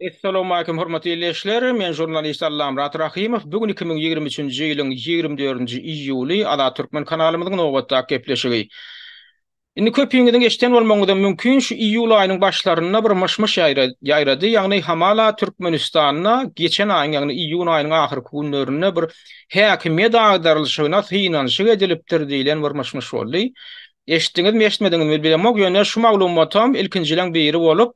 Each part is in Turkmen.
Essalamualeýkum hormatly ildeşler! Men žurnalist Allamyrat Rahymow. Bu gün iki müň ýigrimi üçünji ýylyň ýigrimi dördünji iýuly, Azat Türkmen kanalymyzyň nobatdaky gepleşigi. Indi köpüňiziň eşden bolmagyňyzam mümkin, şu iýul aýynyň başlarynda bir myş-myş ýaýrady, ýagny hamala Türkmenistanda geçen aýyň, ýagny iýun aýynyň ahyrky günlerinde bir häkimiýet agdarylyşygyna synanyşyk edilipdir diýlen bir myş-myş boldy. Eşitdiňizmi, eşitmediňizmi bilemok, ýöne şu maglumatam ilkinjileň biri bolup,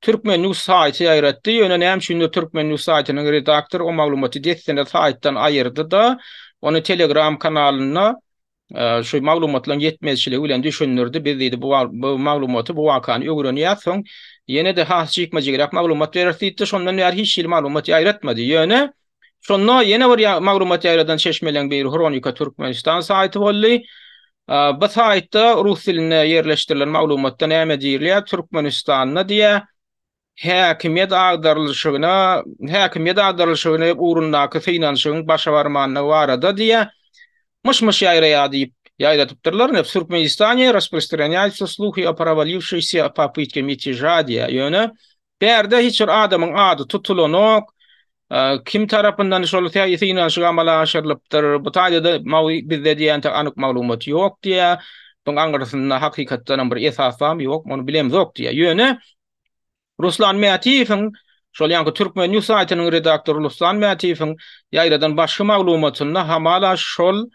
Turkmen. News saýty ýaýratdy, ýöne näme üçindir Turkmen. News saýtynyň redaktory o maglumaty dessine saýtdan aýyrdy-da, ony Telegram kanalynda şu maglumatlaryň ýetmezçiligi bilen düşündirdi, biz diýdi bu maglumaty, bu wakany öwrenýäs, soň ýene-de has jikme-jigräk maglumat bereris diýdi-de, şondan bäri hiç hili maglumat ýaýratmady, ýöne Şonda ýene bir maglumat ýaýradan çeşmeleň biri Hronika Türkmenistan saýty boldy. Bu saýtda rus dilinde ýerleşdirilen maglumatda näme diýilýär? Türkmenistanda diýýär, häkimiýet agdarylyşygyna, häkimiýet agdarylyşygyny ugrundaky synanyşygyň başa barmandygy barada diýýär, myş-myş ýaýraýar diýip ýaýradypdyrlar. Ne Türkmenistanie rasprostranýaýtsa sluhy o prowaliwoşeýşsýa popytke mitýeža diýýär. Ýöne Bärde hiç bir adamyň ady tutulanok. Kim tarapyndan şol synanyşyk amala aşyrylypdyr, bu taýda-da mawy bizde diýençe anyk maglumat ýok diýýär. Buň aňyrsynda hakykatdanam bir esas barmy, ýokmy, ony bilemzok diýýär. Ýöne Ruslan Mätiýewiň, şol ýaňky Türkmen news saýtynyň redaktory Ruslan Mätiýewiň ýaýradan başky maglumatynda hamala şol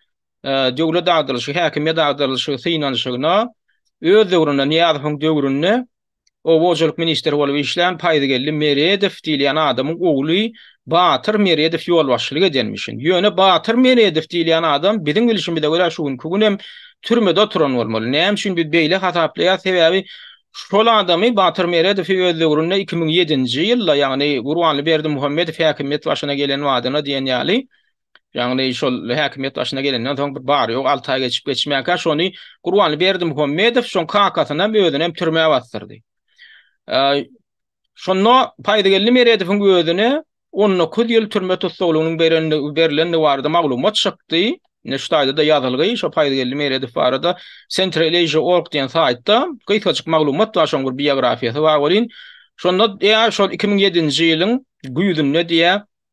döwlet agdarylyşy, häkimiýet agdarylyşy synanyşygyna öz döwründe, Nyýazowyň döwründe Oba hojalyk ministri bolup işlän Paýzgeldi Meredow diýilýän adamyň ogly Batyr Meredow ýolbaşçylyk edenmişin. Ýöne Batyr Meredow diýilýän adam, biziň bilşimize görä, şu günki gün hem türmede oturan bolmaly. Näme üçin biz beýle hasaplaýarys? Sebäbi şol adamy, Batyr Meredowy öz döwründe iki müň ýedinji ýylda, ýagny Gurbanly Berdimuhamedow häkimiýet başyna gelen badyna diýen ýaly, Ýagny şol häkimiýet başyna gelenden soň bir bary-ýogy alty aý geçip-geçmänkä şony Gurbanly Berdimuhamedow soň kakasynam özünem türmä basdyrdy. Şonda Paýzygeldi Meredowyň özüne on dokuz ýyl türme tussaglygynyň berilendigi barada maglumat çykdy. Ine şu taýda-da ýazylgy şo Paýzygeldi Meredow barada Centralasia org diýen saýtda gysgajyk maglumat bar şoň bir biografiýasy bar welin şonda ýa şol iki müň ýedinji ýylyň güýzünde diýä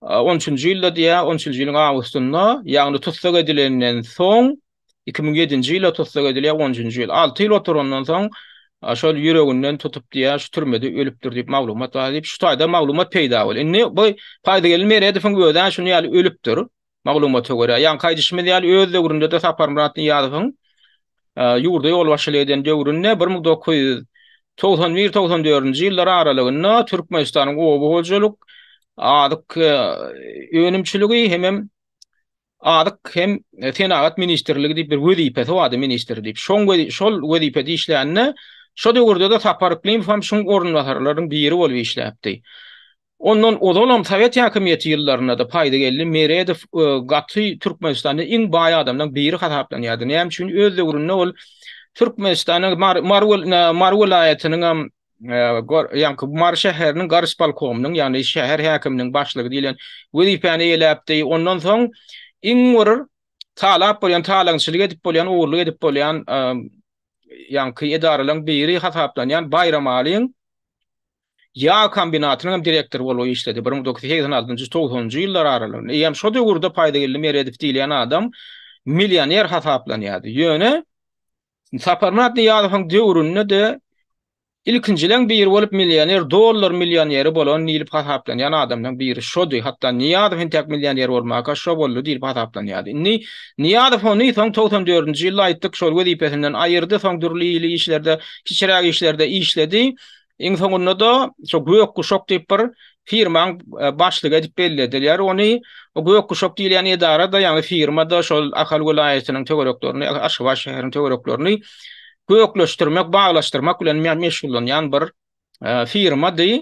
On üçünji ýylda diýýä, on üçünji ýylyň awgustynda, ýagny tussag edilenden soň, iki müň ýedinji ýyla tussag edilýär, on üçünji ýyl. Alty ýyl oturandan soň, şol ýüreginden tutup diýýä, şu türmede ölüpdir diýip maglumat bar diýip, şu taýda maglumat peýda boldy. Indi bu Paýzygeldi Meredowyň özi-ä şuny ýaly ölüpdir, maglumata görä. Ýaňky aýdyşymyz ýaly, öz döwründe-de Saparmyrat Nyýazowyň ýurda ýolbaşçylyk eden döwründe bir müň dokuz ýüz togsan bir, togsan dördünji ýyllar aralygynda Türkmenistanyň oba hojalyk, azyk önümçiligi hemem azyk hem senagat ministrligi diýip bir wezipesi bardy, ministr diýip. Şoň şol wezipede işlände, şo döwürde-de Sapar Yklymowam şuň orunbasarlarynyň biri bolup işläpdi. Ondan ozalam sowet häkimiýeti ýyllarynda-da Paýdageldi Meredow gaty Türkmenistanda iň baý adamlaň biri hasaplanýardy. Näme üçin? Öz döwründe ol Türkmenistanyň Mary welaýatynyň hem ýaňky Mary şäheriniň garyspolkomynyň, ýagny şäher häkiminiň başlygy diýlen wezipäni eýeläpdi. Ondan soň iň bir talap bolýan, talaňçylyk edip bolýan, ogurlyk edip bolýan ýaňky edaralaň biri hasaplanýan Baýramalyň Ýag kombinatynyň hem direktory bolup işledi, bir müň dokuz ýüz segsen altynjy, togsanynjy ýyllar aralygynda. Eýýäm şo döwürde Paýdageldi Meredow diýilýän adam millioner hasaplanýardy. Ýöne Saparmyrat Nyýazowyň döwründe-de ilkinjileň biri bolup millioner, dollar millioneri bolan diýlip hasaplanýan adamlaň biri şody. Hatda Nyýazow entäk millioner bolmaka şo boldy diýlip hasaplanýardy. Indi Nyýazow ony soň togsan dördünji ýylda aýtdyk, şol wezipesinden aýyrdy, soň dürli-ýyly işlerde, kiçiräk işlerde işledi. Iň soňunda-da şu Gök guşak diýip bir firmaň e, başlygy edip bellediler. Ony o Gök guşak diýilýän edara-da, ýagny firma-da şol Ahal welaýatynyň töwereklerini, Aşgabat şäheriniň töwereklerini gökleşdirmek, baglaşdyrmak bilen meşgullanýan bir e, firmady.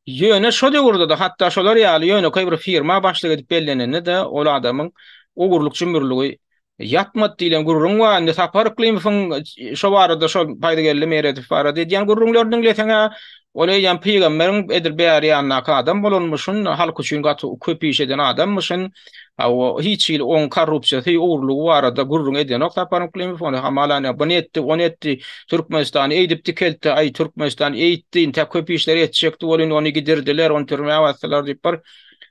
Ýöne şo döwürde-de hatda şolar ýaly ýönekeý bir firma başlyk edip bellenende-de ol adamyň ogurlyk jümürligi Ýatmady diýlen gürrüň bar. Indi Sapar Yklymowyň şo barada şo Baýdygeldi Meredow barada edýän gürrüňlerini diňleseň-ä, ol eýýäm pygamberiň edil bäri ýanyndaky adam bolanmyşyn, halk üçin gaty köp iş eden adammyşyn. Hawa, hiç hili oň korrupsiýasy, ogrulygy barada gürrüň edenok Sapar Yklymow. Ony hamala ine, buny etdi, ony etdi, Türkmenistany eýdip dikeltdi, aý, Türkmenistan eýtdi, intäk köp işleri etjekdi bol, indi ony gidirdiler, ony türmä basdylar diýip bir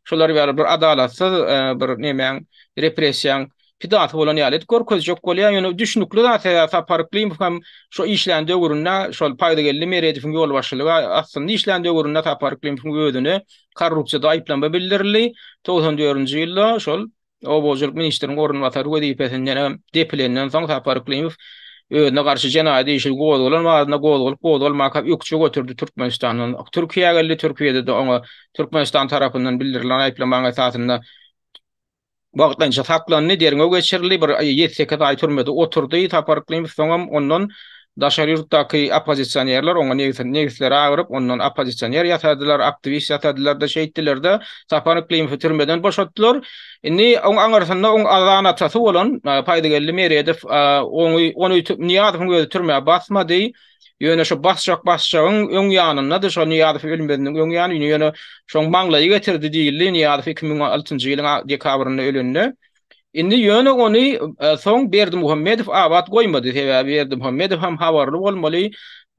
şular ýaly bir adalatsyz bir nemäň repressiýaň pidasy bolan ýaly edip görkezjek bolýar, ýöne düşnükli zat sebäbi Sapar Iklimow hem şo işlän döwründe şol Paýdageldi Meredowyň ýolbaşçylygy astynda işlän döwründe Sapar Iklimowyň özüni korrupsiýada aýyplama bildirildi, togsan dördünji ýylda şol obahojalyk ministriniň orunbasary wezipesinden hem depilenden soň Sapar Iklimow özüne garşy jenaýat işi gozgalan barada gozgalyp gozgalmaka ökje göterdi Türkmenistandan Türkiýä geldi, Türkiýede-de oňa Türkmenistan tarapyndan bildirilen aýyplamaň esasynda wagtlanýja saklandy, derňew geçirildi, bir ýedi-sekiz aý türmede oturdy Sapar Yklymow, soňam ondan daşary ýurtdaky oppozisionerler oňa negisleri agyryp, ondan oppozisioner ýasadylar, aktiwist ýasadylar-da, şeýtdiler-de, Sapar Yklymowy türmeden boşatdylar. Indi oň aňyrsynda oň aza-anatasy bolan Paýdageldi Meredow, ony Nyýazowyň özi türmä basmady. Ýöne şo basjak basjagyň öň ýanyndady, şo Nyýazow ölmeziniň öň ýany, ýöne şoň maňlaýy getirdi diýildi, Nyýazow iki müň altynjy ýylyň dekabrynda ölende. Indi ýöne ony soň Berdimuhammedow abat goýmady, sebäbi Berdimuhammedow hem habarly bolmaly,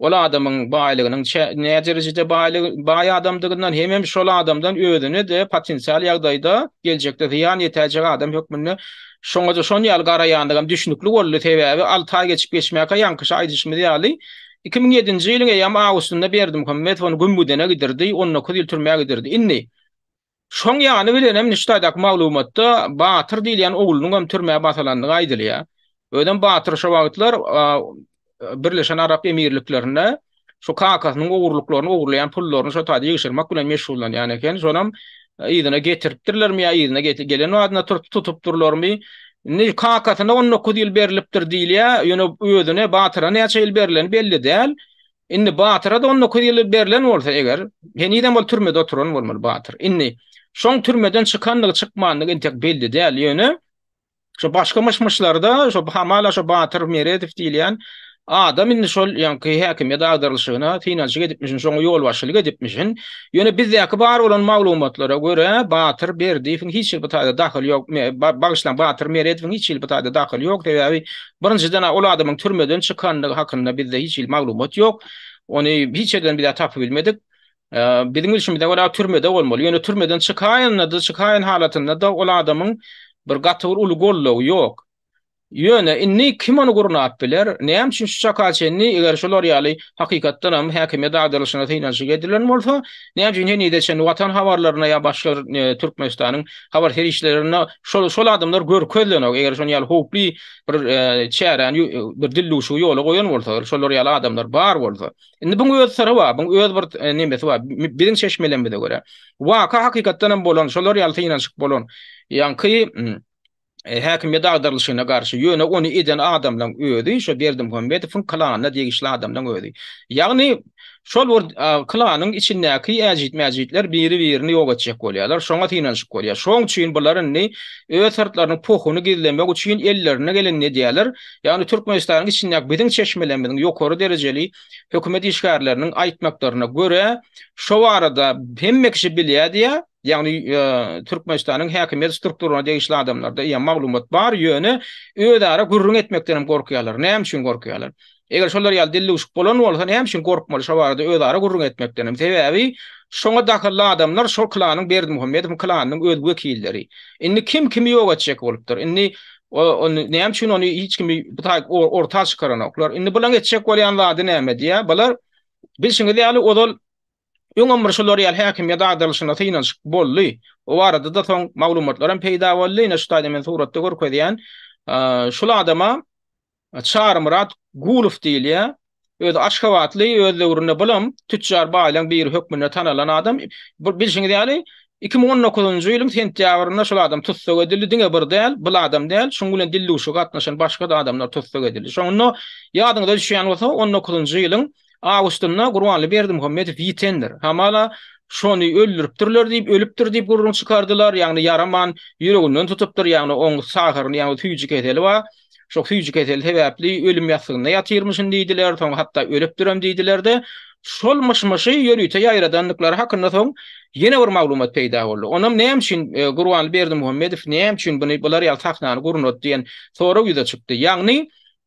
ol adamyň baýlygynyň nä derejede baýlygy, baý adamdygyndan, hemem şol adamdan özüne-de potensial ýagdaýda geljekde zyýan ýetäýjek adam hökmünde, Şoňa-da şon ýaly garaýandygam düşnükli boldy, sebäbi alty aý geçip-geçmäkä ýaňkyça aýdyşymyz ýaly, iki müň ýedinji ýylyň eýýam awgustynda Berdimuhamedow ony Gümgüdene gidirdi, on dokuz ýyl türmä gidirdi. Indi, şoň ýany bilenem Nüştaýdaky maglumatda Batyr diýilýän oglunyňam türmä basylandygy aýdylýar. Özem Batyr şo wagtlar Birleşen Arap Emirliklerinde şu kakasynyň ogurlyklaryny ogurlaýan pullaryny şu taýda ýygşyrmak bilen meşgullanýan eken. Şonam e, yzyna getiripdirlermi ýa yzyna gelen wadyna turup tutupdyrlarmy? Indi kakasyna 19 ýyl berlipdir diýilýär, ýöne özüne Batyra näçe ýyl berleni belli däl. Indi Batyra da 19 ýyl berlen bolsa eger, henizem ol türmede oturan bolmaly Batyr. Indi şoň türmeden çykandygy, çykmandygy entek belli däl, ýöne Şo başga myş-myşlarda şo hamala şo Batyr Meredow diýilýän adam indi şol ýaňky häkimiýet agdarylyşyna synanyşyk edipmişin, şoňa ýolbaşçylyk edipmişin. Ýöne bizdäki bar bolan maglumatlara görä, Batyr Berdiýewiň hiç hili bu taýda dahyly ýok, bagyşlaň, Batyr Meredowyň hiç hili bu taýda dahyly ýok, sebäbi birinjiden ol adamyň türmeden çykandygy hakynda bizde hiç hili maglumat ýok. Ony hiç ýerden bizä tapyp bilmedik. Biziň bilşimize görä türmede bolmaly. Ýöne türmeden çykaýanda-da, çykaýan halatynda-da ol adamyň bir gaty bir uly goldawy ýok. Ýöne indi kim ony gurnap biler? Näme üçin şu çaka çenli eger şular ýaly hakykatdan hem häkimiýet agdarylyşyna synanyşyk edilen bolsa, näme üçin henize çenli Watan habarlaryna ýa başga Türkmenistanyň habar serişdelerinde şol şol adamlar görkezilenok? Eger şon ýaly howply bir çäräni bir dildüwşigi ýola goýan bolsa, şolar ýaly adamlar bar bolsa, Indi buň öz syry bar, buň öz bir e, nemesi bar. Biziň çeşmelerimize görä, waka hakykatdan hem bolan, şolar ýaly synanyşyk bolan. Ýaňky mm, e, häkimiýet agdarylyşyna garşy, ýöne ony eden adamlaryň özi şu Berdimuhamedowyň klanyna degişli adamlaryň özi. Ýagny şol bir klanyň içindäki äjit-mäjitler biri-birini ýok etjek bolýarlar, şoňa synanyşyk bolýar. Şoň üçin bular indi öz syrtlarynyň pohuny gizlemek üçin ellerine geleni edýärler. Ýagny Türkmenistanyň içindäki biziň çeşmelerimiziň ýokary derejeli hökümet işgärleriniň aýtmaklaryna görä, şo barada hemme kişi bilýärdi ýa, ýagny Türkmenistanyň häkimiýet strukturasyna degişli adamlarda ýa maglumat bar, ýöne özara gürrüň etmekden hem gorkýarlar. Näme üçin gorkýarlar? Eger şolar ýaly dillüwşük bolan bolsa, näme üçin gorkmaly şo barada özara gürrüň etmekden hem? Sebäbi şoňa dahylly adamlar şol klanyň Berdimuhamedowyň klanynyň öz wekilleri. Indi kim kimi ýok etjek bolupdyr? Indi O, ony näme üçin ony hiç kimi bu taýyk orta çykaranoklar. Indi bularyň etjek bolýan zady näme diýä? Bular bilşiňiz ýaly ozal öňem bir şular ýaly häkimiýet agdarylyşyna synanyşyk boldy. O barada-da soň maglumatlar hem peýda boldy. Ine şu taýda men suratda görkezýän. Şul adama Çarymyrat Gulow diýilýär. Özi aşgabatly, öz döwründe bulam tütjar baýlaryň biri hökmünde tanalan adam. Bu bilşiňiz ýaly, iki müň on dokuzynjy ýylyň sentýabrynda şol adam tussag edildi. Diňe bir däl, bul adam däl, şunuň bilen dildüwşüge gatnaşan başga-da adamlar tussag edildi. Şonda, ýadyňyza düşýän bolsa, on dokuzynjy ýylyň awgustynda Gurbanly Berdimuhamedow ýitendir. Hamala, şony öldüripdirler diýip, ölüpdir diýip gürrüň çykardylar. Ýagny ýaraman, ýüreginden tutupdyr, ýagny oň sahyryny, ýagny süýji keseli bar. Şo süýji keseli sebäpli ölüm ýassygynda ýatyrmyşyn diýdiler, soň hatda ölüpdirem diýdiler-de, şol myş-myşy ýörite ýaýradandyklary hakynda soň ýene bir maglumat peýda boldy. Onam näme üçin Gurbanly Berdimuhamedow näme üçin buny bular ýaly sahnany gurnady diýen sorag ýüze çykdy. Ýagny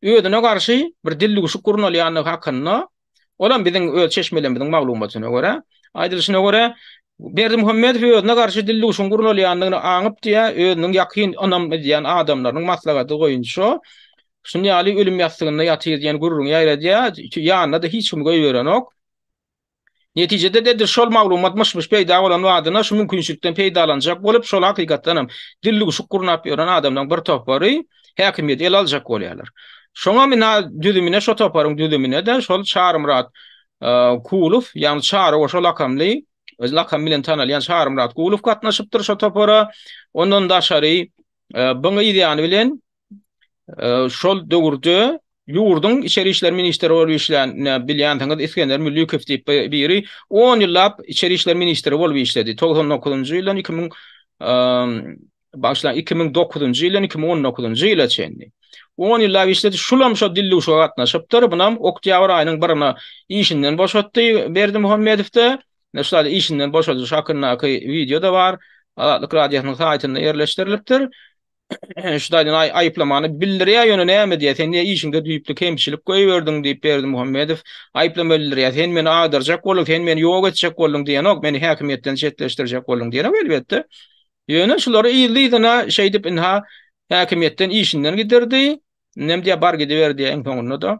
özüne garşy bir dildüwşük gurnalýandygy hakynda Olam biziň öz çeşmelerimiziň maglumatyna görä, aýdylyşyna görä, Berdimuhamedow özüne garşy dildüwşüň gurnalýandygyny aňyp diýýär, özüniň ýakyn ynam edýän adamlarynyň maslahady boýunça şuny ýaly ölüm ýassygynda ýatyr diýen gürrüňi ýaýradýar, ýanyna-da hiç kimi goýberenok. Netijede-de edil şol maglumat myş-myş peýda bolan badyna şu mümkinçilikden peýdalanjak bolup, şol hakykatdanam dildüwşük gurnap ýören adamlaryň bir topary, häkimiýeti ele aljak bolýarlar. Şoňa bina düzümine, şo toparyň düzümine-de şol Çarymyrat Kulow, ýagny Çary goşa lakamly, öz lakamy bilen tanalýan Çarymyrat Kulow gatnaşypdyr şo topara. Ondan daşary buň ýany bilen şol döwürde ýurduň içeri işler ministri bolup işlän, bilýänsiňiz, Isgender Müllikow diýip biri 10 ýyllap içeri işler ministri bolup işledi. 99-njy ýyldan 2000 bagşylaň 2009-njy ýyldan 2019-njy ýyla çenli. 10 ýyllap işledi, şulam şo dilli uşaga gatnaşypdyr. Bunam oktýabr aýynyň birine işinden boşatdy Berdi Muhammedowda. Ine şular işinden boşadyş hakyndaky wideo da bar. Azatlyk radiosynyň saýtynda ýerleşdirilipdir. Şulardan aý aýyplamany bildirýär, ýöne näme diýýär, sen diýýär işiňde düýpli kemçilik goýberdiň diýip Berdi Muhammedow aýyplama bildirýär. Sen meni agdarjak bolduň, sen meni ýok etjek bolduň diýenok, meni häkimiýetden çetleşdirjek bolduň diýenok elbetde. Ýöne şulary yzly-yzyna şeýdip ynha häkimiýetden işinden gidirdi, indem diýýär bar gidiber diýýär iň soňunda-da.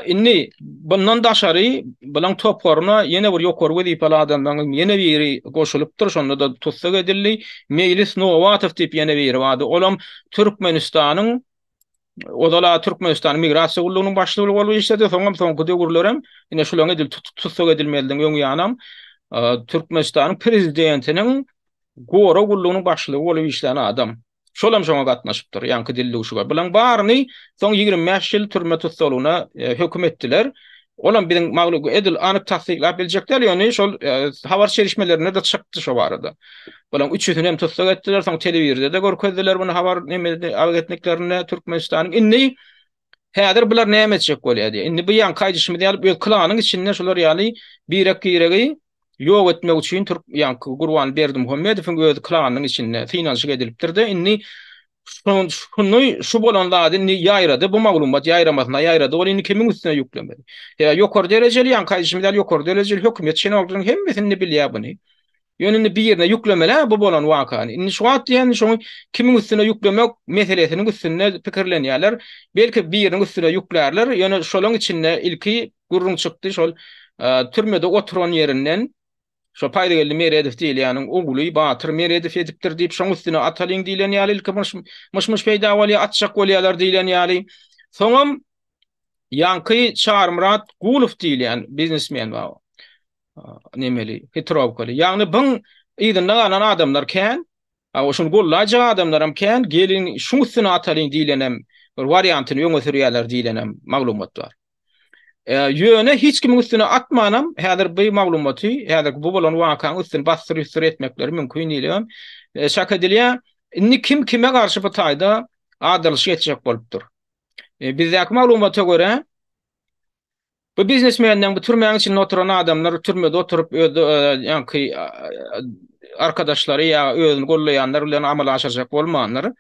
Indi bundan daşary bulaň toparyna ýene bir ýokary wezipeli adamlaryň ýene biri goşulypdyr, şonda-da tussag edildi. Meýlis Nowatow diýip ýene biri bardy, olam Türkmenistanyň Ozal-a Türkmenistanyň Migrasiýa gullugynyň başlygy bolup işledi, soňam soňky döwürler hem ine şulaň edil tussag edilmezligiň öňi ýanam Türkmenistanyň prezidentiniň gorag gullugynyň başlygy bolup işlän adam. Şol hem şoňa gatnaşypdyr, ýaňky dildüwşüge. Bulaň baryny soň ýigrimi bäş ýyl türme tussaglygyna höküm etdiler. Olam biziň maglugy edil anyk tassyklap biljek däl, ýöne şol habar çelişmelerinde-de çykdy şo barada. Olaň üç ýüzüni hem tussag etdiler, soň telewizorda-da görkezdiler muny habar agentliklerinde Türkmenistanyň. Indi häzir bular näme etjek bolýar diýýär. Indi bu ýaňky aýdyşymyz ýaly öz klanyň içinde şular ýaly birek-biregi ýok etmek üçin türk ýa Gurban Berdimuhamedowyň öz klanynyň içinde synanyşyk edilipdir-de, indi şuny şu bolan zady indi ýaýrady, bu maglumat ýaýramasyna ýaýrady, ol indi kimiň üstüne ýüklemeli? Ýa ýokary derejeli, ýa kaýyşym ýaly ýokary derejeli hökümet çenolklarynyň hemmesi indi bilýär buny. Ýöne indi birine ýüklemeli-ä bu bolan wakany. Indi şu wagt diýen şoňy kimiň üstüne ýüklemek meselesiniň üstünde pikirlenýärler. Belki biriniň üstüne ýüklärler, ýöne şolaň içinde ilki Gürrüň çykdy şol türmede oturan ýerinden şo Paýlygeldi Meredow diýilýäniň ogly Batyr Meredow edipdir diýip şoň üstüne atalyň diýilen ýaly ilki myş-myş peýda bolýar atjak bolýarlar diýilen ýaly. Soňam ýaňky Çarmyrat Gulow diýilýän biznesmen bar. Nemeli, hitrowkaly. Ýagny biň yzynda galan adamlar kän. A o şuny gollaýjak adamlaram kän, geliň şuň üstüne atalyň diýlenem bir wariantyny öňe sürýärler diýlenem maglumat bar. Ýöne hiç kimiň üstüne atmanam häzir bu maglumaty, häzirki bu bolan wakaň üstüni bassyr-üsdür etmekleri mümkin diýlibem çak edilýär. Indi kim kime garşy bu taýda adylyşyk etjek bolupdyr. Bizdäki maglumata görä, Bu biznesmenleň bu türmäň içinde oturan adamlar türmede oturyp öz ýaňky arkadaşlary ýa özüni gollaýanlar bilen amala aşyrjak bolmandyr.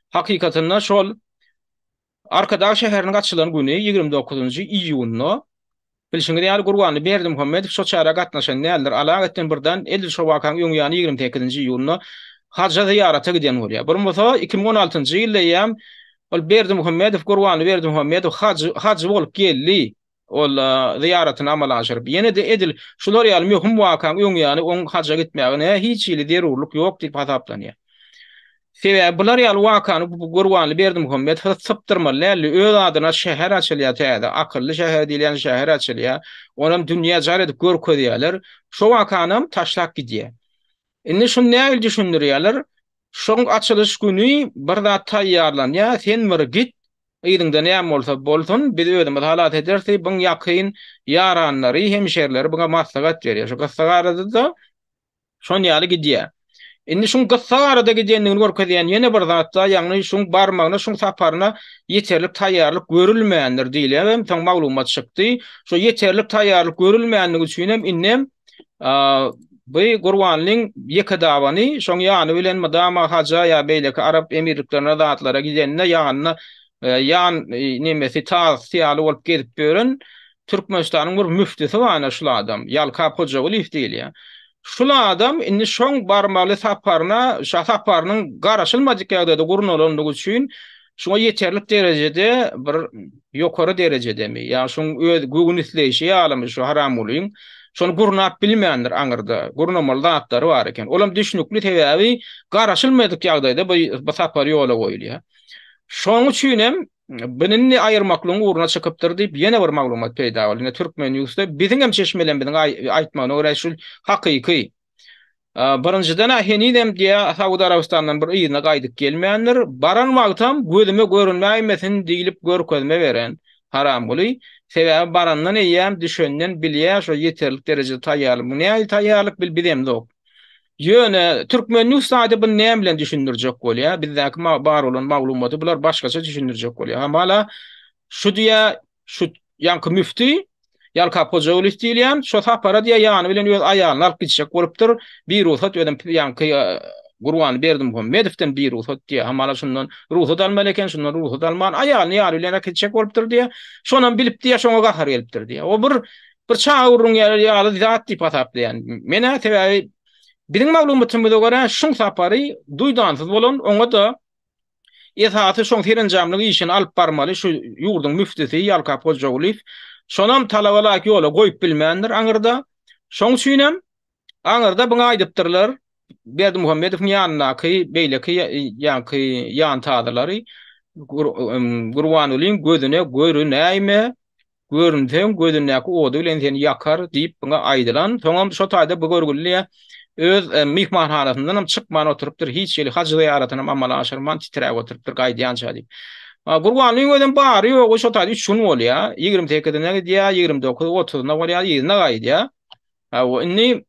Hakykatynda şol Arkadag şäheriniň açylan güni ýigrimi dokuzynjy iýunda bilşiňiz ýaly Gurbanly Berdimuhamedow şo çärä gatnaşan däldir. Alaeddin birden edil şo wakaň öň ýany ýigrimi sekizinji iýunda Haja zyýarata giden bolýar. Bolmasa iki müň on altynjy ýylda eýýäm Ol Berdimuhamedow, Gurbanly Berdimuhamedow hajy bolup geldi. Ol zyýaratyny amala aşyryp, ýene-de edil şular ýaly möhüm wakaň öň ýany oň haja gitmegine hiç hili zerurlyk ýok diýip hasaplanýar. Sebäbi bular ýaly wakany bu Gurbanly Berdimuhamedow sypdyrmaly däldi. Öz adyna şäher açylýar täze. Akylly şäher diýilýän şäher açylýar. Onam dünýä jar edip görkezýärler. Şo wakanam taşlap gidýär. Indi şuny nähili düşündirýärler? Şoň açylyş güni bir zat taýýarlanýa, sen bir git, yzyňda näme bolsa bolsun, biz özümiz halas ederis diýip, byň ýakyn ýaranlary, hemşerileri byňa maslahat berýär. Şu gyssagarada-da şon ýaly gidýä. Indi şuň gyssagarada gidendigini görkezýän ýene bir zat-da, ýagny şuň barmagyna, şuň saparyna ýeterlik taýýarlyk görülmändir diýilýär hem soň maglumat çykdy. Şo ýeterlik taýýarlyk görülmänligi üçinem indem Bu Gurbanlyň ýeke dabany, şoň ýany bilen mydama haja ýa beýleki arap emirliklerine zatlara gidende ýanynda ýan nemesi tazy ýaly bolup gezip ýören Türkmenistanyň bir müftisi bar ene şul adam, Ýalkap Hojagulyýew diýilýär. Şul adam indi şoň barmaly saparyna şa saparynyň garaşylmadyk ýagdaýda gurnalandygy üçin Şuňa ýeterlik derejede bir ýokary derejedemi, ýa şuň öz göwün isleýşi ýalymy şu Haramgulyň, şony gurnap bilmändir aňyrda, gurnamaly zatlary bar eken. Olam düşnükli sebäbi garaşylmaýdyk ýagdaýda bu bu sapar ýola goýulýa. Şoň üçin hem binini aýyrmaklygyň ugruna çykypdyr diýip ýene bir maglumat peýda boldy. Ine Türkmenewsde biziňem çeşmelerimiziň aýtmagyna görä şu hakyky. Birinjiden-ä henizem diýýä Saud Arabystandan bir yzyna gaýdyp gelmändir. Baran wagtam gözüme görünmäýmesin diýlip görkezme beren Haramguly. Sebäbi barandan eýýäm düşenden bilýä şo ýeterlik derejede taýýarlyk. Bu nähili taýýarlyk bil bizemzok. Ýöne türkmen news saýty buny näme bilen düşündirjek bolýa? Bizdäki bar bolan maglumaty bular başgaça düşündirjek bolýa. Hamala şu diýýä Şu ýaňky müfti Ýalkap Hojaulis diýilýän şo sapara diýýär ýany bilen öz aýalyny alyp gitjek bolupdyr. Bir rugsat özem ýaňky Gurban Berdimuhammedowden bir rugsat diýýär. Hamala şundan rugsat almaly eken, şundan rugsat alman aýalyny ýary bilen alyp gitjek bolupdyr diýýär. Şonam bilip diýýär, şoňa gahary gelipdir diýýär. O bir bir çaga urruň ýaly zat diýip hasaplaýan. Men-ä sebäbi biziň maglumatymyza görä şuň sapary duýdansyz bolan, oňa-da Esasy şoň serenjamlyk işini alyp barmaly şu ýurduň müftüsi Ýalkap Hojagulyýew. Şonam talabalaýyk ýola goýup bilmändir aňyrda. Şoň üçinem aňyrda biňe aýdypdyrlar Berdimuhamedowyň ýanyndaky beýleki ýaňky ýantazalary Gurbanulyň gözüne görünäýme, Görünseň, gözündäki ody bilen seni ýakar, diýip buna aýdylan. Soňam şo taýda bu görgüli öz myhmanhanasyndanam çykman oturypdyr, hiç hili haj zyýaratynam amala aşyrman titräp oturypdyr gaýdýança diýip. Gurbanyň özem bary-ýogy şo taýda üç gün bolýar. Ýigrimi sekizine gidýär, ýigrimi dokuz, otuzyna bolýar, yzyna gaýdýar. Hawa, indi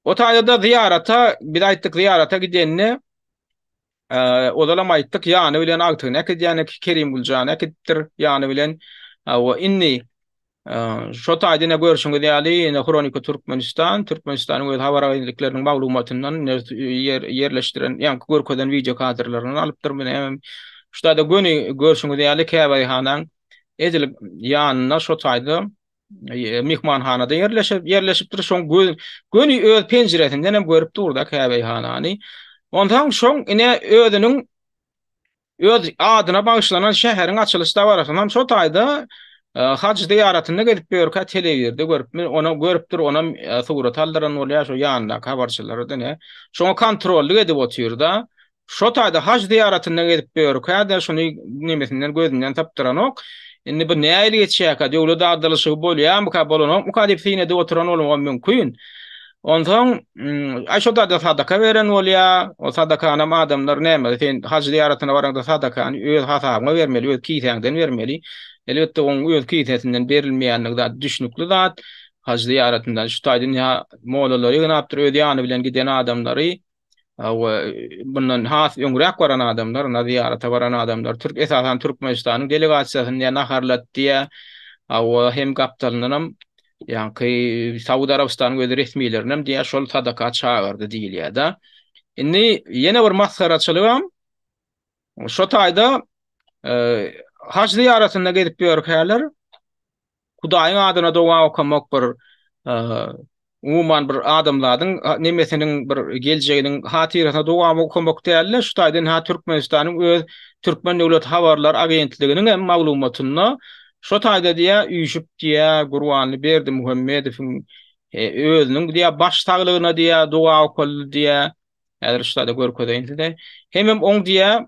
o taýda-da zyýarata, biz aýtdyk, zyýarata gidenine Ozalam aýtdyk, ýany bilen agtygyny äkidýänik, Kerim Güljany äkidipdir ýany bilen. Hawa, indi şo taýda ine görşüňiz ýaly, ine Hronika Türkmenistan, Türkmenistanyň öz habar agentlikleriniň maglumatyndan ýerleşdiren, ýa görkezen wideo kadrlaryndan alypdyr. Mine hem şu taýda göni görşüňiz ýaly käbähanaň edil ýanynda şo taýda mihmanhanada ýerleşip ýerleşipdir. Şoň göz göni öz penjiresinden hem görüp durda käbeýhanany. Ondan şoň ine özüniň öz adyna bagyşlanan şäheriň açylyş dabarasyny hem şo taýda e, haj zyýaratynda gezip ýörkä telewizorda görüp, ona görüpdir, ona e, surat aldyran bolýar, şo ýanyndaky habarçylardan. Şoňa kontrollyk edip otyrda, Şo taýda haj zyýaratynda gezip ýör, kädä şuny nemesinden gözünden sypdyranok. Indi bu nähili geçýärkä, döwlet agdalyşygy bolýarmyka, bolanokmyka diýip synady oturan bolmagam mümkin. Onsoň, aý şo taýda sadaka beren bolýar, o sadakanam adamlar näme, sen haj zyýaratyna baraňda sadakany öz hasabyňa bermeli, öz kisäňden bermeli. Elbetde oň öz kisesinden berilmeýändigi zat düşnükli zat. Haj zyýaratyndan şu taýda mollary ýygnapdyr, öz ýany bilen giden adamlary. we mundan has öňräk baran adamlar, ýa zyýarata baran adamlar, türk, esasan Türkmenistanyň delegasiýasyny ýa naharlatdy, ýa we hem gapdalyndanam ýaňky Saud Arabystanyň öz resmilerinem diýýär, şol sadaka çagyrdy diýilýär-de. Indi ýene bir masgaraçylygam şo taýda, haj zyýaratynda gezip ýörkäler, Hudaýyň adyna doga okamak bir umuman bir adamzadyň nemesiniň bir geljeginiň hatyrasyna doga okamak däl-de, şu taýdan ha Türkmenistanyň öz Türkmen döwlet habarlar agentliginiň hem maglumatynda şo taýda diýýär, üýşüp diýýär, Gurbanly Berdimuhamedowyň özüniň diýýär baş saglygyna diýýär doga okaldy diýýär. Häzir şu taýda görkezeýin size. Hemem oň diýýär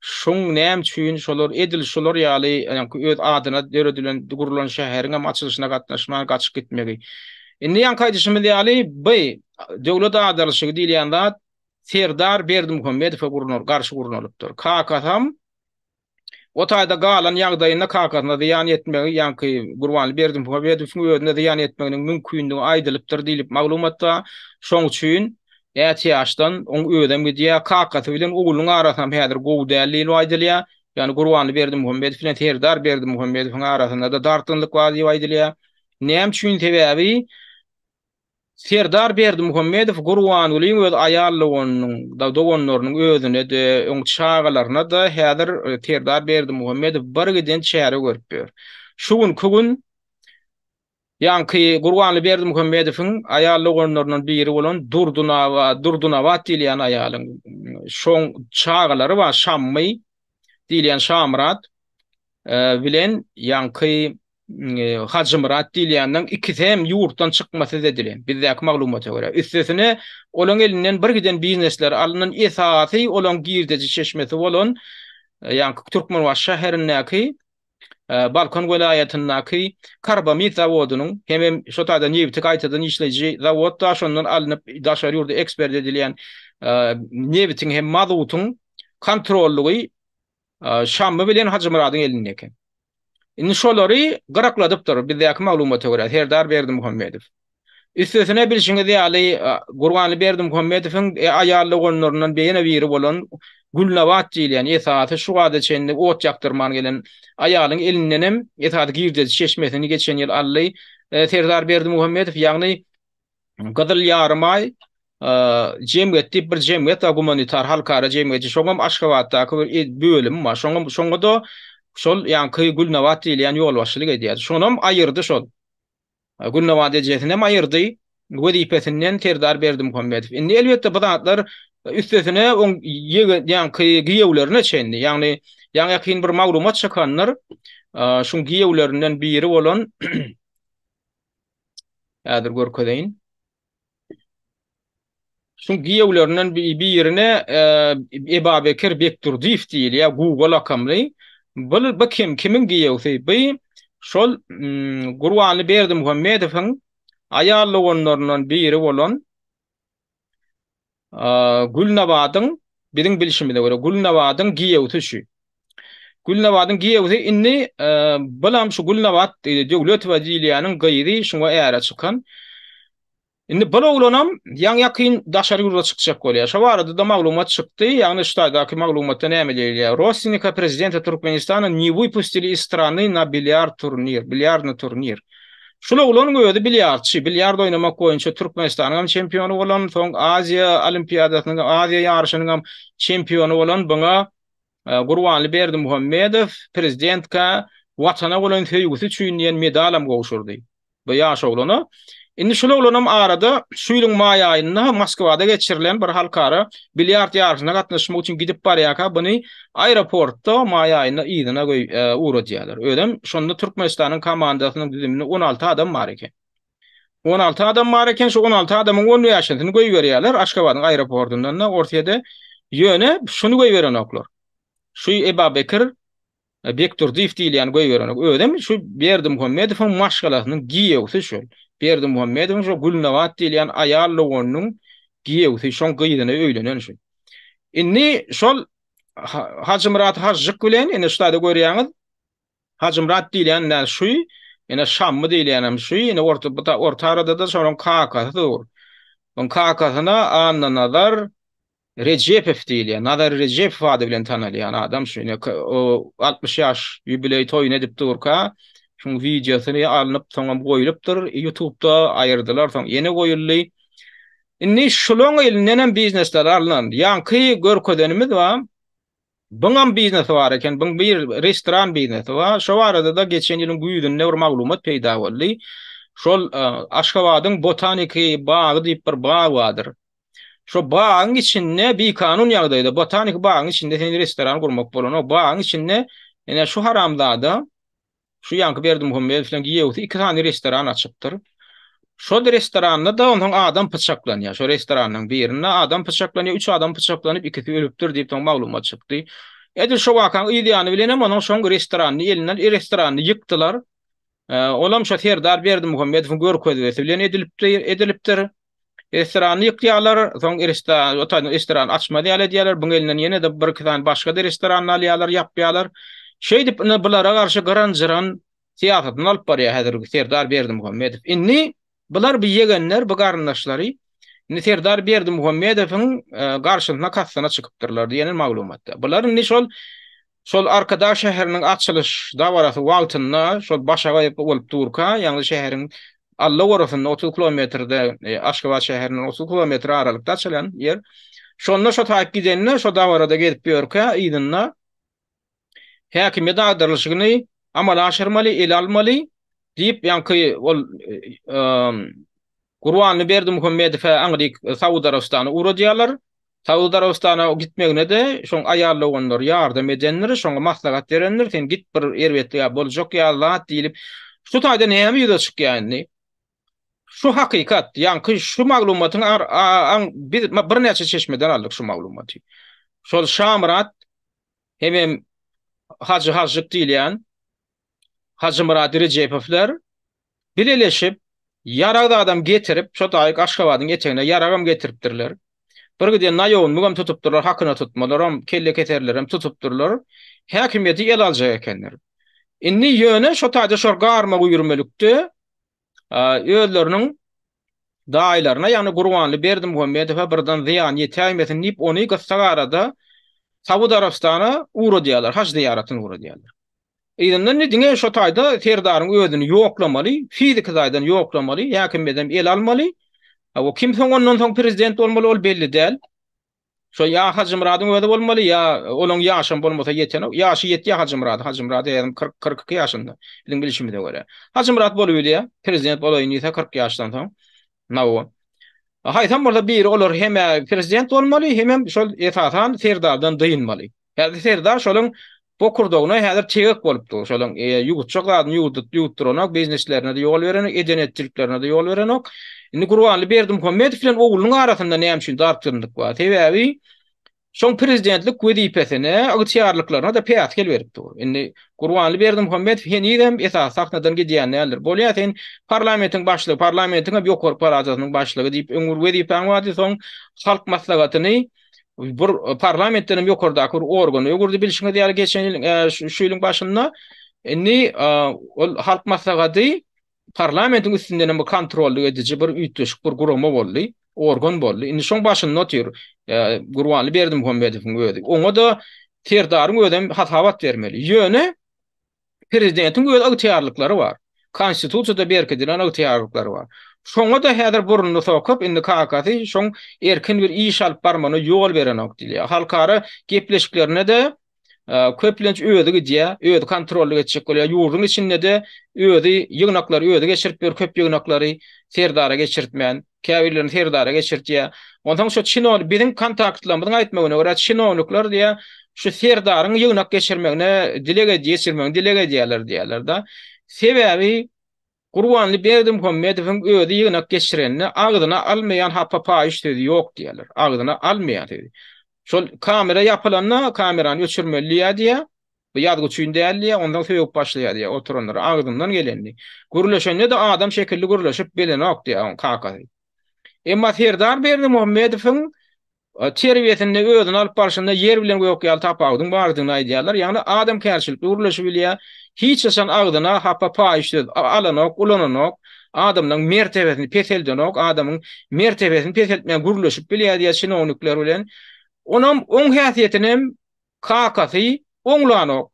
Şoň näme üçin şolar edil şolar ýaly ýaňky öz adyna döredilen gurlan şäheriň hem açylyşyna gatnaşman gaçyp gitmegi. Indi ýaňky aýdyşymyz ýaly by döwlet agdarylyşygy diýilýän zat Serdar Berdimuhamedowa gurnar garşy gurnalypdyr. Kakasam o taýda galan ýagdaýynda kakasyna zyýan ýetmegi ýaňky Gurbanly Berdimuhamedowyň özüne zyýan ýetmeginiň mümkindigi aýdylypdyr diýlip maglumatda. Şoň üçin Näçe ýaşdan oň özem gidýär. Kakasy bilen oglunyň arasynam häzir gowy däl diýlip aýdylýar. Ýagny Gurbanly Berdimuhamedow bilen Serdar Berdimuhamedowyň arasynda-da dartgynlyk bar diýip aýdylýar. Näme üçin? Sebäbi Serdar Berdimuhamedow Gurbangulyň öz aýal doganynyň, doganlarynyň özüne-de, oň çagalaryna-da häzir Serdar Berdimuhamedow bir giden çäre görüp ýör. Şu günki gün Ýaňky Gurbanly Berdimuhamedowyň aýal doganlaryndan biri bolan Durdunaba, Durdunabat diýilýän aýalyň şoň çagalary bar, Şammy diýilýän Şamyrat bilen ýaňky Hajymyrat diýilýäniň ikisi hem ýurtdan çykmasyz edilen, bizdäki maglumata görä. Üstesine, olaň elinden bir giden biznesleri alnan, esasy olaň girdeji çeşmesi bolan ýaňky Türkmenbaşy şäherindäki Balkan welaýatyndaky karbamid zawodynyň hemem şo taýdan nebiti gaýtadan işleýji zawodda şondan alnyp daşary ýurda ekspert edilýän nebitiň hem mazutyň kontrollygy Şammy bilen Hajymyradyň elinde eken. Indi şolary gyrakladypdyr bizdäki maglumata görä Serdar Berdimuhamedow. Üstesine bilşiňiz ýaly, Gurbanly Berdimuhamedowyň aýal doganlaryndan ýene biri bolan Gülnabat diýilýän, esasy şu wagta çenli ot ýakdyrman gelen aýalyň elindenem esasy girdeji çeşmesini geçen ýyl aldy. Serdar Berdimuhamedow, ýagny Gyzyl Ýarymaý jemgyýeti diýip bir jemgyýet bar, gumanitar halkara jemgyýeti, şoňam Aşgabatdaky bir bölümi bar. Şoňam, şoňa-da şol ýaňky Gülnabat diýilýän ýolbaşçylyk edýärdi. Şonam aýyrdy şol. Gülnabat ejesinem aýyrdy wezipesinden Serdar Berdimuhamedow. Indi elbetde bu zatlar üstesine oň ýaňky giýewlerine çenli, ýagny ýaňy-ýakyn bir maglumat çykandyr, şuň giýewlerinden biri bolan, häzir görkezeýin. Şuň giýewlerinden birine Ebabekir Bekdurdyýew diýilýär, Guga lakamly. Bul bu kim, kimiň giýewsi? Bi şol Gurbanly Berdimuhamedowyň aýal doganlaryndan biri bolan Gülnabadyň, biziň bilşimize görä, Gülnabadyň giýewsi şu. Gülnabadyň giýewsi indi bulam şu Gülnabat Döwletowa diýilýäniň gyzy, şuňa äre çykan. Indi bul oglanam ýaňy-ýakyn daşary ýurda çykjak bolýar. Şo barada-da maglumat çykdy, ýagny şu taýdaky maglumatda näme diýilýär? Rossinikä prezidenta Türkmenistana ne wypustili iz strany na bilýard turnir, bilýardny turnir. Şul oglanyň özi bilýardçy, bilýard oýnamak boýunça Türkmenistanyňam çempiony bolan, soň Aziýa olimpiadasynyň, Aziýa ýaryşynyňam çempiony bolan buňa Gurbanly Berdimuhamedow prezidentkä Watana bolan söýgüsi üçin diýen medalam gowşurdy bu ýaş oglana. Indi şul oglanam arada şu ýylyň maý aýynda Moskwada geçirilen bir halkara bilýard ýaryşyna gatnaşmak üçin gidip barýarka buny Aeroportda maý aýynda yzyna göý ugradýarlar. Özem şonda Türkmenistanyň komandasynyň düzüminde on alty adam bar eken. On alty adam bar eken, şu on alty adamyň on bäşisini göýberýärler Aşgabadyň aeropordyndan-da Orsýede. Ýöne şuny göýberenoklar. Şu Ebabekir Bekdurdyýew diýilýäni göýberenok. Özem şu Berdimuhammedowyň maşgalasynyň giýewsi şol. Berdimuhammedowyň şu Gülnabat diýilýän aýal doganynyň giýewsi, şoň gyzyna öýlenen şol. Indi şol Hajymyrat Hajjyk bilen indi şuda görýäňiz. Hajymyrat diýilýän näme şu? Indi Şammy diýilýän hem şu. Indi orta bu orta arada da şonuň kakasy dur. Onuň kakasyna Anna Nazar Rejepow diýilýär. Nazar Rejepow ady bilen tanalýan adam şu. Indi 60 ýaş ýubileý toýuny edip durka, şuň wideosyny alnyp, soňam goýlupdyr. Ýutubda aýyrdylar, soň ýene goýuldy. Indi şulaň elindenem biznesler alnan. Ýaňky görkezenimiz bar. Buňam biznesi bar eken. Buň bir restoran biznesi bar. Şo barada-da geçen ýylyň güýzünde bir maglumat peýda boldy. Şol Aşgabadyň botaniki bagy diýip bir bag bardyr. Şo bagyň içinde bikanun ýagdaýda botaniki bagyň içinde sen restoran gurmak bolanok. Bagyň içinde ine şu haramzada Şu ýaňky Berdimuhamedowyň giýewsi iki sany restoran açypdyr. Şol restoranda-da onsoň adam pyçaklanýar. Şo restoranyň birinde adam pyçaklanýar, üç adam pyçaklanyp, ikisi ölüpdir diýip soň maglumat çykdy. Edil şo wakaň yz ýany bilen hem onuň şoň restoranyny elinden, restoranyny ýykdylar. Olam şo Serdar Berdimuhamedowyň görkezmesi bilen edilipdir. Restorany ýykýarlar, soň restoran, otanyň restoran açmaz ýaly edýärler, buň elinden ýene-de bir-iki sany başga-da restorany alýarlar, ýapýarlar. Şeýdip, ine, bulara garşy gyran-jyran syýasatyny alyp barýar häzirki Serdar Berdimuhamedow. Indi bular, bu ýegenler, bu garyndaşlary, indi Serdar Berdimuhamedowyň garşysyna kastyna çykypdyrlar diýendir maglumatda. Bular indi şol Şol Arkadag şäheriniň açylyş dabarasy wagtynda şol başagaý bolup durka, ýagny şäheriň alla gorasynda otuz kilometrde, Aşgabat şäherinden otuz kilometr aralykda açylan ýer. Şonda şo taýyp gidende, şo dabarada gezip ýörkä, yzynda häkimiýet agdarylyşyny amala aşyrmaly, ele almaly diýip, ýaňky ol Gurbanly Berdimuhamedow-ä aňryk Saud Arabystana ugradýarlar. Saud Arabystana gitmegine-de şoň aýal doganlary ýardam edendir, şoňa maslahat berendir, sen git bir erbetlig-ä boljak ýaly zat diýlip. Şu taýda näme ýüze çykýar indi? Şu hakykat, ýaňky şu maglumatyň ar-a-aň biz birnäçe çeşmeden aldyk şu maglumaty. Şol Şamyrat hemem Hajy Hažžyk diýilýän Hajymyrat Rejepowler Bileleşip, ýarag-zadam getirip, şo taýyk Aşgabadyň etegine ýaragam getiripdirler. Bir giden naýownmygam tutupdyrlar, hakyna tutmalaram, kellekeserlerem tutupdyrlar. Häkimiýeti ele aljak ekenler. Indi ýöne şo taýda şol garma-guýrmelikde özleriniň daýylaryna, ýagny Gurbanly Berdimuhamedowa birden zyýan ýetäýmesin diýip, ony gyssagarada Saud Arabystana ugradýarlar, haj zyýaratyna ugradýarlar. Yzyndan indi diňe şo taýda serdaryň özüni ýoklamaly, fiziki taýdan ýoklamaly, häkimiýedem el almaly. A o kim soň ondan soň prezident bolmaly ol belli däl. Şo ýa Hajymyradyň özi bolmaly, ýa olaň ýaşam bolmasa ýetenok. Ýaşy ýetýä Hajymyradyň. Hajymyrad äýýäm kyrk, kyrk iki ýaşynda. Biziň bilşimize görä. Hajymyrat bolubilýä, prezident bolaýyn diýse kyrk ýaşdan soň. Nawa. Haýsam bolsa biri olar hem-ä prezident bolmaly, hemem şol esasan serdardan dynmaly. Häzir Serdar şolyň bokurdagyna häzir tegek bolup dur. Şolyň ýuwutjak zadyny ýuwudyp ýuwutdyranok, bizneslerine-de ýol berenok, eden-etjiklerine-de ýol berenok. Indi Gurbanly Berdimuhamedow bilen oglunyň arasynda näme üçin dartgynlyk bar? Sebäbi şoň prezidentlik wezipesine, ygtyýarlyklaryna-da päsgel berip dur. Indi Gurbanly Berdimuhamedow henizem esasy sahnadan gidýän däldir. Bolýa sen parlamentiň başlygy, parlamentiň hem ýokary palatasynyň başlygy diýip öň bir wezipäň bardy, soň halk maslahatyny, bir e, parlamentden hem ýokardaky bir organ öwürdi bilşiňiz ýaly geçen ýyl e, şu ýylyň başynda indi e, ol halk maslahaty parlamentiň üstünden hem bir kontrolly ediji bir üýtgeşik bir gurama boldy organ boldy indi şoň başynda otyr gurbanly berdim muhammedowyň özi oňa da serdaryň özem hasabat bermeli ýöne Prezidentiň öz ygtyýarlyklary bar. Konstitusiýada berkidilen ygtyýarlyklary bar. Şoňa-da häzir burnuny sokup, indi kakasy şoň erkin bir iş alyp barmagyna ýol berenok diýilýär. Halkara gepleşiklerine-de köplenç özi gidýär, özi kontrollyk etjek bolýar. Ýurduň içinde-de özi ýygnaklary özi geçirip ýör, köp ýygnaklary Serdara geçirtmän. käbirlerini Serdara geçirtýär. Onsoň şu çinow biziň kontaktlarymyzyň aýtmagyna görä çinownikler diýýär, şu Serdaryň ýygnak geçirmegine dileg ed geçirmegini dileg edýärler diýýärler-de. Sebäbi Gurbanly Berdimuhamedowyň özi ýygnak geçirenini agzyna almaýan hapa paýyş sözi ýok diýýärler. Agzyna almaýan sözi. Şol kamera ýapylanda kamerany öçürmeli diýýär diýýär. Bu ýazgy üçin däl diýýär, ondan sögüp başlaýar diýýär oturanlara, agzyndan gelenini. Gürleşende-de adam şekilli gürleşip bilenok diýýär oň kakasy. Emma Serdar Berdimuhamedowyň terbiýesinde, özüni alyp barşynda ýer bilen gök ýaly tapawudyň bardygyny aýdýarlar. Ýagny adamkärçilikli gürleşibilýär, hiç haçan agzyna hapa paýyş söz alanok, ulananok, adamlaryň mertebesini peseldenok, adamyň mertebesini peseltmän gürleşip bilýär diýýär çinownikler bilen. Onam oň häsiýetinem Kakasy oňlanok.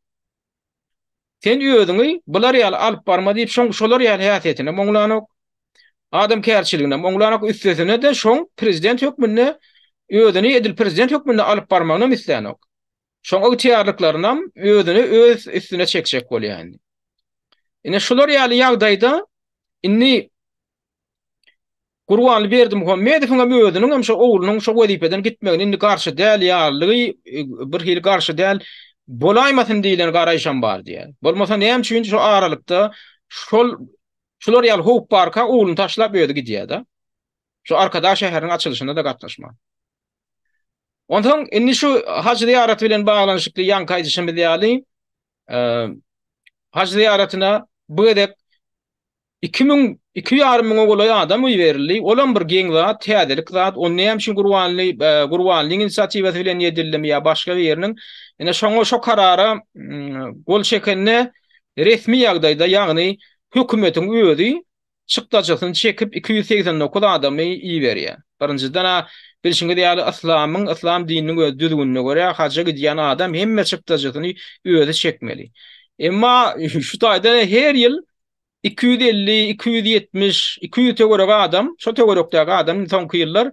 Sen özüňi bular ýaly alyp barma diýip şoň şolar ýaly häsiýetinem oňlanok. Adamkärçiliginem oňlanok üstesine-de şoň prezident hökmünde özüni edil prezident hökmünde alyp barmagynam islänok. Şoň ygtyýarlyklarynam özüne öz üstüne çekjek bolýa indi. Ine şular ýaly ýagdaýda indi Gurbanly Berdimuhamedowyňam özüniňem şo oglunyň şo wezipeden gitmegine indi garşy däl ýalydygy, bir hili garşy däl bolaýmasyn diýlen garaýşam bar diýýär. Bolmasa näme üçin şo aralykda şol şular ýaly howp barka ogluny taşlap özi gidýär-de. Şo Arkadag şäheriniň açylyşyna-da gatnaşman. Onsoň indi şu haj zyýaraty bilen baglanyşykly ýaňky aýdyşymyz ýaly, Haj zyýaratyna bu gezek iki müň, iki ýarym müňe golaý adam goýberildi. Ol hem bir geň zat, täzelik zat. Ony näme üçin Gurbanly, Gurbanlyň inisiatiwasy bilen edildimi ýa başga biriniň? Ine şoňa, şo karara gol çekende resmi ýagdaýda, ýagny hökümetiň özi çykdajysyny çekip iki ýüz segsen dokuz adamy iberýär. Birinjiden-ä, bilşiňiz ýaly, yslamyň, yslam dininiň öz düzgünine görä, haja gidýän adam hemme çykdajysyny özi çekmeli. Emma şu taýdan her ýyl iki ýüz elli, iki ýüz ýetmiş, iki ýüz töweregi adam, şo töwerekdäki adam indi soňky ýyllar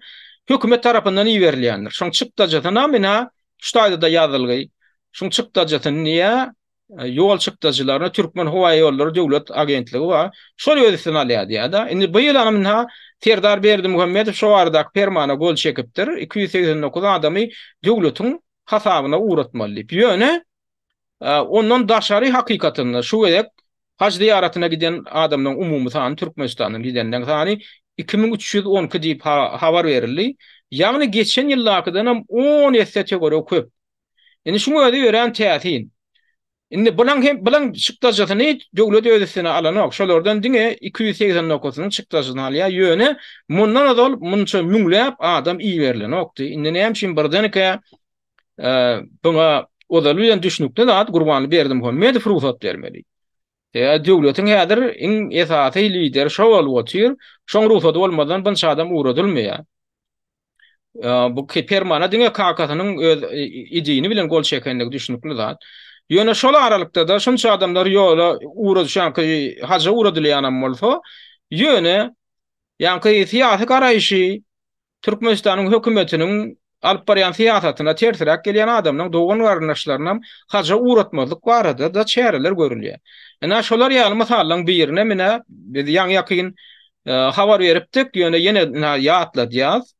hökümet tarapyndan iberilýändir. Şoň çykdajysynam ine şu taýda-da ýazylgy, şuň çykdajysyny diýýär, E, ýol çykdajylaryna Türkmen howa ýollary döwlet agentligi bar. Şol öz üstüne alýar diýýär-de. Indi bu ýyl anynha Serdar Berdimuhamedow şu baradaky permana gol çekipdir. 289 adamy döwletiň hasabyna ugratmaly diýip. Ýöne e, ondan daşary hakykatynda şu gezek haj zyýaratyna giden adamlaryň umumy sany Türkmenistandan gidenden sany 2312 diýip habar berildi. Ýagny geçen ýyldakydan hem 10 esse töweregi köp. Indi şuň özi örän täsin. Indi bulan hem bulan çykdajysyny döwlet öz üstüne alanok. Şolardan diňe 289-nyň çykdajyny alýar. Ýöne mundan ozal munça müňläp adam iberilenokdy. Indi näme üçin birdenkä buňa ozaly bilen düşnükli zat Gurbanly Berdimuhamedow rugsat bermeli. Ýa döwletiň häzir iň esasy lideri şo bolup otyr. Şoň rugsady bolmazdan bunça adam ugradylmaýar. Bu Permana diňe kakasynyň öz idini bilen gol çekendigi düşünikli zat. Ýöne şol aralykda-da şunça adamlar ýola ura düşenki haja uradylýanam bolsa, ýöne ýaňky syýasy garaýşy Türkmenistanyň hökümetiniň alyp barýan syýasatyna tersiräk gelýän adamlaryň dogan-garyndaşlarynam haja uratmazlyk barada-da çäreler görülýär. Ine, şolar ýaly mysallaryň birine menä biz ýaňy-ýakyn habar beripdik, ýöne ýene ýatladýas.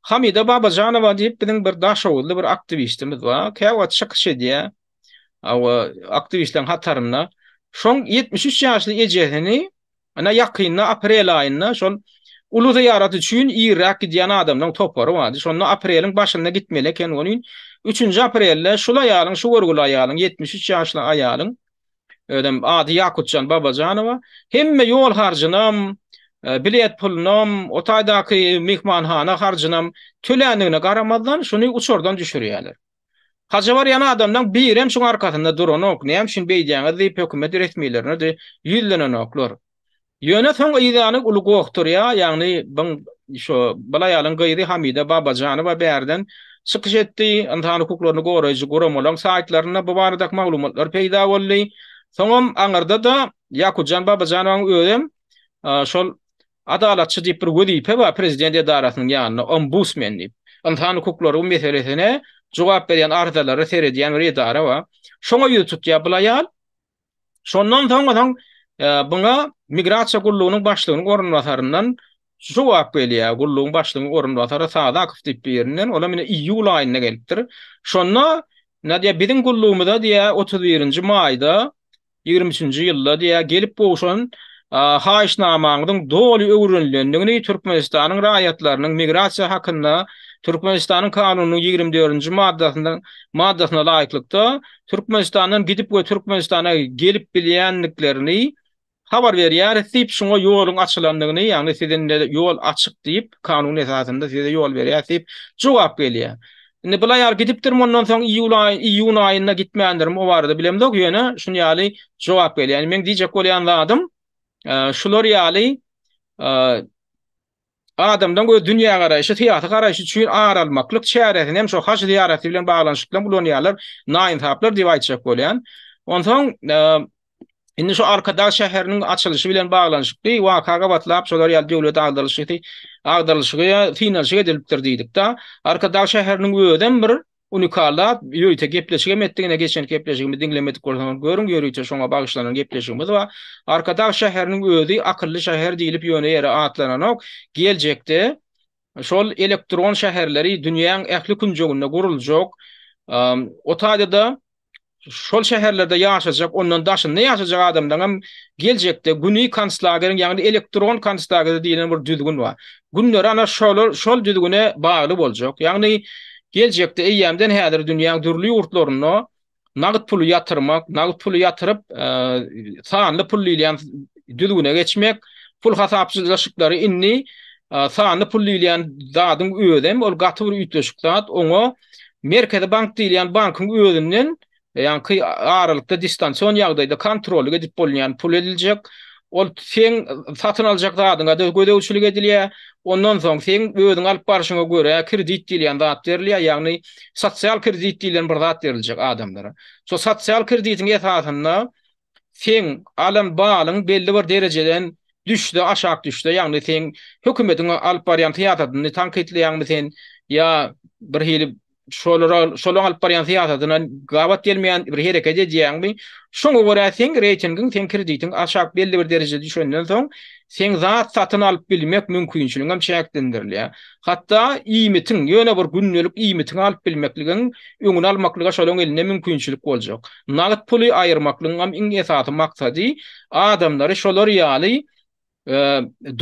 Hamida Babajanowa diýip biziň bir daşoguzly bir aktiwistimiz bar. Käwagt çykyş edýär. Awa, aktiwistleriň hatarynda. Şoň 73 ýaşly ejesini ina ýakynda aprel aýynda şol uly zyýarat üçin irräk gidýän adamlaryň topary bardy. Şonda apreliň başynda gitmeli eken welin, üçünji aprelde şul aýalyň, şu görgüli aýalyň, ýetmiş üç ýaşly aýalyň özem ady Ýakutjan Babajanowa, hemme ýol harjynam, bilet pulunam, o taýdaky myhmanhana harjynam töländigine garamazdan, şuny uçardan düşürýärler. Haja barýan adamlaň birem şuň arkasynda duranok, näme üçin beýdýäňiz diýip hökümet resmilerine-de ýüzlenenoklar. Ýöne soň yzýany uly gokdurýa, ýagny byn şo bul aýalyň gyzy Hamida Babajanowa bärden çykyş etdi, ynsan hukuklaryny goraýjy guramalaň saýtlarynda bu baradaky maglumatlar peýda boldy. Soňam aňyrda-da Ýakutjan Babajanowanyň özem şol Adalatçy diýip bir wezipe bar prezident edarasynyň ýanynda, Ombudsmen diýip. Ynsan hukuklary meselesine jogap berýän arzalary seredýän bir edara bar. Şoňa ýüz tutýa bul aýal. Şondan soň onuň buna migrasiýa gullugynyň başlygynyň orunbasaryndan şu jogap gelýär, gullugyň başlygynyň orunbasary Sadakow diýip birinden, olam ine iýul aýynda gelipdir. Şonda nädýär, biziň gullugymyza diýýär, otuz birinji maýda ýigrimi üçünji ýylda diýýär, gelip gowşan haýyşnamaňyzyň doly öwrenilendigini, Türkmenistanyň raýatlarynyň migrasiýa hakynda Türkmenistanyň Kanunynyň ýigrimi dördünji maddasyna laýyklykda Türkmenistandan gidip we Türkmenistana gelip bilýändiklerini habar berýäris diýip, şuňa ýoluň açylandygyny, ýagny siziň ýol açyk diýip, kanun esasynda size ýol berýäris diýip jogap gelýär. Indi bul aýal gidipdir, mundan soň iýul aýy, iýun aýynda gitmändirmi o barada bilemzok, ýöne şun ýaly jogap gelýär. Indi meň diýjek bolýan zadym, şular ýaly Adamdan göz dünýägaraýşy, syýasy garaýşy üçin ar almaklyk çäresini hem şo haj zyýaraty bilen baglanyşykdan ulanýarlar, naýynsaplar diýip aýtjak bolýan. Onsoň indi şo Arkadag şäheriniň açylyşy bilen baglanyşykly waka gabatlap şolar ýaly döwlet agdarylyşy agdarylyşygy synanyşyk edilipdir diýdik-de. Arkadag şäheriniň özem bir Unikallap, ýörite gepleşigem etdik, ine geçenki gepleşigimizi diňlemedik bolsaňyz görüň, ýörite şoňa bagyşlanan gepleşigimiz bar. Arkadag şäheriniň özi akylly şäher diýlip ýöne ýere atlananok, geljekde şol elektron şäherleri dünýäň ähli künjeginde guruljak. O taýda-da şol şäherlerde ýaşajak, ondan daşynda ýaşajak adamlaryň hem geljekde güni konslagerin, ýagny elektron konslager diýlen bir düzgün bar. Günleri ana şolar, şol düzgüne bagly boljak. Ýagny geljekde eýýämden häzir dünýäň dürli ýurtlarynda nagt puly ýatyrmak, nagt puly ýatyryp, sanly pul diýilýän düzgüne geçmek, pul hasaplaşyklary indi sanly pul diýilýän zadyň özem ol gaty bir üýtgeşik zat, oňa Merkezi bank diýilýän bankyň özünden ýaňky aralykda distansion ýagdaýda kontrollyk edip bolunýan pul ediljek. Ol seň satyn aljak zadyňa-da gözegçilik edilýär. Ondan soň seň özüň alyp barşyňa görä kredit diýilýän zat berilýär, ýagny sosial kredit diýlen bir zat beriljek adamlara. Şo sosial kreditiň esasynda seň alan balyň belli bir derejeden düşse aşak düşse ýagny seň hökümetiň alyp barýan syýasatyny tankytlaýaňmy sen ýa bir hili şolara şolaň alyp barýan syýasatyna gabat gelmeýän bir hereket edýäňmi şoňa görä seň reýtingiň seň kreditiň aşak belli bir derejä düşenden soň seň zat satyn alyp bilmek mümkinçiligiňem çäklendirilýär Hatda iýmitiň, ýöne bir gündelik iýmitiňi alyp bilmekligiň öňüni almaklyga şolaryň elinde mümkinçilik boljak. Nagt puly aýyrmaklygyňam iň esasy maksady adamlary şolar ýaly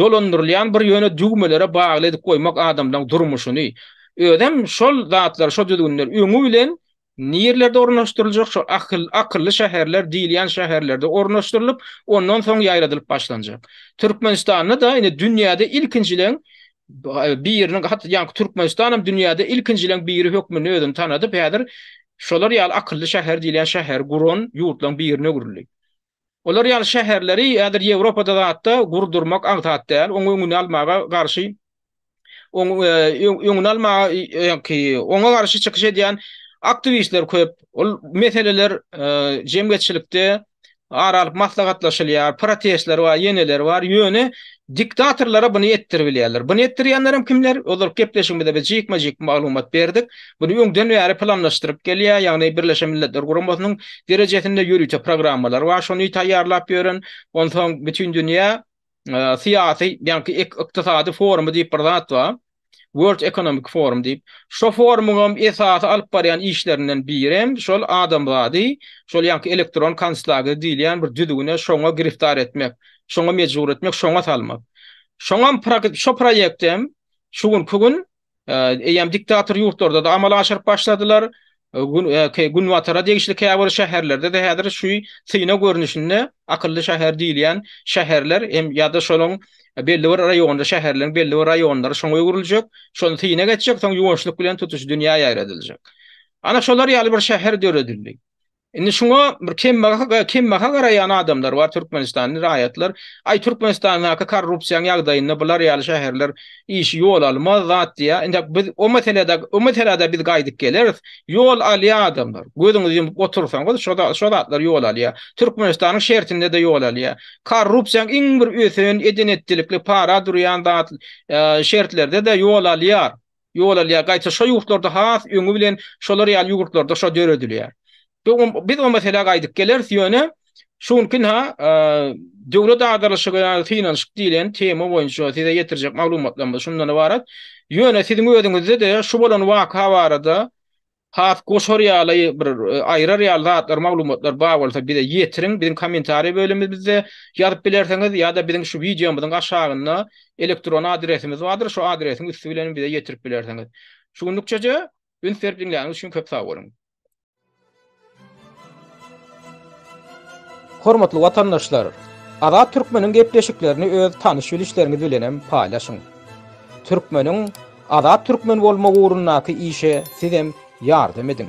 dolandyrylýan bir ýöne düwmelere bagly edip goýmak adamlaryň durmuşyny. Özem şol zatlar, şol düzgünler öňi bilen Nirlerde ornaşdyryljak şu akyl, akylly şäherler diýilýän şäherlerde ornaşdyrylyp, ondan soň ýaýradylyp başlanjak. Türkmenistanda-da indi dünýäde ilkinjileň biriniň, hat, ýaňky Türkmenistanam dünýäde ilkinjileň biri hökmünde özüni tanadyp, häzir şolar ýaly akylly şäher diýilýän şäheri guran ýurtlaryň birine öwrüldi. Olar ýaly şäherleri häzir Ýewropada zatda gurdurmak aňsat däl, oň öňüni almaga garşy, oň öňüni almaga ýaňky oňa garşy çykyş edýän aktiwistler köp. Ol meseleler jemgyýetçilikde ara alyp maslahatlaşylýar, protestler bar, ýeneler bar, ýöne Diktatorlara buny etdiribilýärler. Buny etdirýänlerem kimler? Ozalky gepleşigimizde biz jikme-jik maglumat berdik. Buny öňden bäri planlaşdyryp gelýär, ýagny Birleşen Milletler Guramasynyň derejesinde ýörite programmalar bar şony taýýarlap ýören. Onsoň Bütindünýä syýasy, ýagny ykdysady forumy diýip bir zat bar. World Economic Forum diýip, şo forumyňam esasy alyp barýan işlerinden birem şol adamzady şol ýaňky elektron konslager diýilýän bir düzgüne şoňa giriftar etmek, şoňa mejbur etmek, şoňa salmak. Şoňam şo proýektem şu günki gün eýýäm diktator ýurtlarda-da amala aşyryp başladylar. Günbatara degişli käbir şäherlerde-de häzir şu syna görnüşinde akylly şäher diýilýän şäherler hem ýa-da şonuň belli bir raýonda, şäherleriň belli bir raýonlary şoňa öwrüljek, şony syna geçjek, soň ýuwaşlyk bilen tutuş dünýä ýaýradyljak. Ana şolar ýaly bir şäher döredildi. Indi şuňa bir kembaha garaýan adamlar bar, türkmenistanly raýatlar, Aý, Türkmenistandaky korrupsiýaň ýagdaýynda bular ýaly şäherler işi ýol almaz zat diýýär. Indi biz o meselede, o meselede biz gaýdyp geleris. Ýol alýar adamlar. Gözüňizi ýumup otursaňyz, şo zatlar ýol alýar. Türkmenistanyň şertinde-de ýol alýar. Korrupsiýaň iň bir ösen, eden-etdilikli, para durýan zat şertlerde-de ýol alýar. Ýol alýar. Gaýta şo ýurtlarda has öňi bilen şolar ýaly ýurtlarda şo döredilýär. Biz o meselä gaýdyp geleris, ýöne şu günki-ha Döwlet agdarlyşygy ýa-da synanyşyk diýlen tema boýunça size ýetirjek maglumatlarymyz şundan ybarat. Ýöne siziň özüňizde-de şu bolan waka barada has goşar ýaly, bir aýrar ýaly zatlar, maglumatlar bar bolsa bize ýetiriň. Biziň kommentariýa bölümimizde ýazyp bilersiňiz ýa-da biziň şu wideomyzyň aşagynda elektron adresimiz bardyr, şu adresiň üsti bilen bize ýetirip bilersiňiz. Şu günlükçeje üns berip diňläniňiz üçin köp sag boluň. Hormatly watandaşlar, Azat Türkmeniň gepleşiklerini öz tanyş-bilişleriňiz bilenem paýlaşyň. Türkmeniň Azat Türkmen bolmagy ugrundaky işe sizem ýardam ediň.